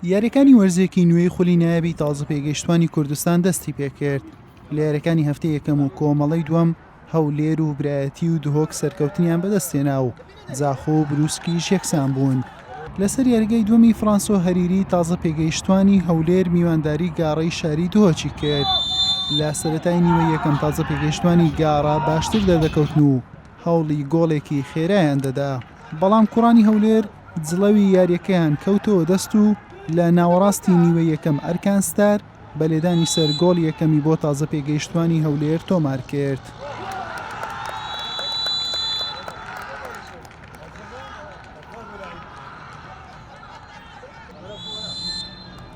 یاریەکانی وەرزێکی نوێی خولی نایابی تازە پێگەیشتوانی کوردستان دەستی پێکرد لە یاریەکانی هەفتە یەکەم و کۆمەڵی دووەم هەولێر و برایەتی و دهۆک سەرکەوتنیان بەدەستێنا و زاخۆ و بروسکیش یەکسان بوون لەسەر یاریگەی دومی فرانسۆ هەریری تازە پێگەیشتوانی هەولێر میوانداری گاڕی شاری دهۆچی کرد لە سەتای نیوە یەکەم تازە پێگەیشتوانی گاڕا باشتر دەردەکەوتن و هەوڵی گۆڵێکی خێرایان دەدا. بەڵام کوڕانی هەولێر جڵەوی یارییەکەیان کەوتەوە دەست و لە ناوەڕاستی نیوەی یەکەم ئەرکان ستار بە لێدانی سەر گۆڵ یەکەمی بۆ تازە پێگەیشتوانی هەولێر تۆمار کرد.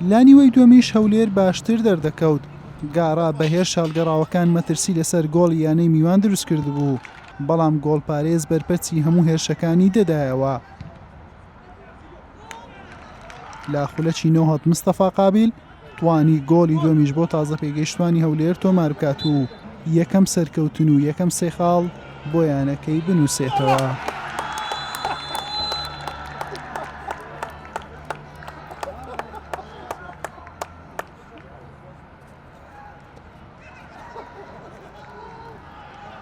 لانیوەی دومیش هەولێر باشتر دەردەکەوت گارا بەهێش شالگەڕاوەکان مەترسی لەسەر گۆڵ یانەی میوان دروست کرد بوو بەڵام گۆڵپارێز بەرپەرچی هەموو هێرشەکانی دەدایەوە. لە خولەکی نۆهەد مستەفا قابیل توانی گۆڵی دومیش بۆ تازە پێگەیشتوانی هەولێر تۆمار بکات و یەکەم سەرکەوتن و یەکەم سێخاڵ بۆ یانەکەی بنووسێتەوە.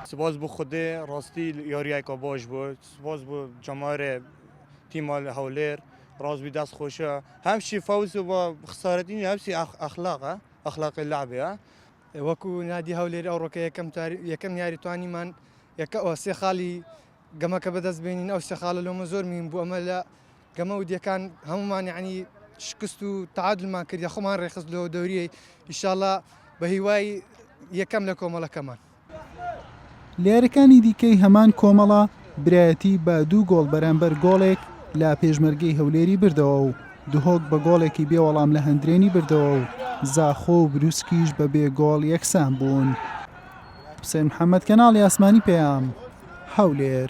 سپاس بۆ خودێ ڕاستی یاریایکۆ بۆش بوو سپاس بۆ جەمارێ تیما لە هەولێر ڕازبی دەست خۆشە هەمشی فەوز بۆ خسارەتنی هەمسی ئەخلاقە ئەخلاقی لابێ وەکو نادی هەولێر ئەو ڕۆکە یەکەم یەکەم یاریتوانیمان یەکە ئۆسێ خاڵی گەمەکە بەدەست بێنین ئەو سێ خاڵە لۆمە زۆر مهیم بوو ئەمە لە گەمە ودیەکان هەموومان یانی شکست و تعادلمان کرد خۆمان ڕێخست لەوە دەوریەی ئیشاڵا بە هیوای یەکەم لە کۆمەڵەکەمان. لە یاریەکانی دیکەی هەمان کۆمەڵە، برایەتی بە دوو گۆڵ بەرامبەر گۆڵێک لە پێشمەرگەی هەولێری بردەوە و دهۆک بە گۆڵێکی بێ وەڵام لە هەندرێنی بردەوە و زاخۆ و بروسکیش بە بێ گۆڵ یەکسان بوون. حوسێن محەمەد کەناڵی ئاسمانی پەیام هەولێر.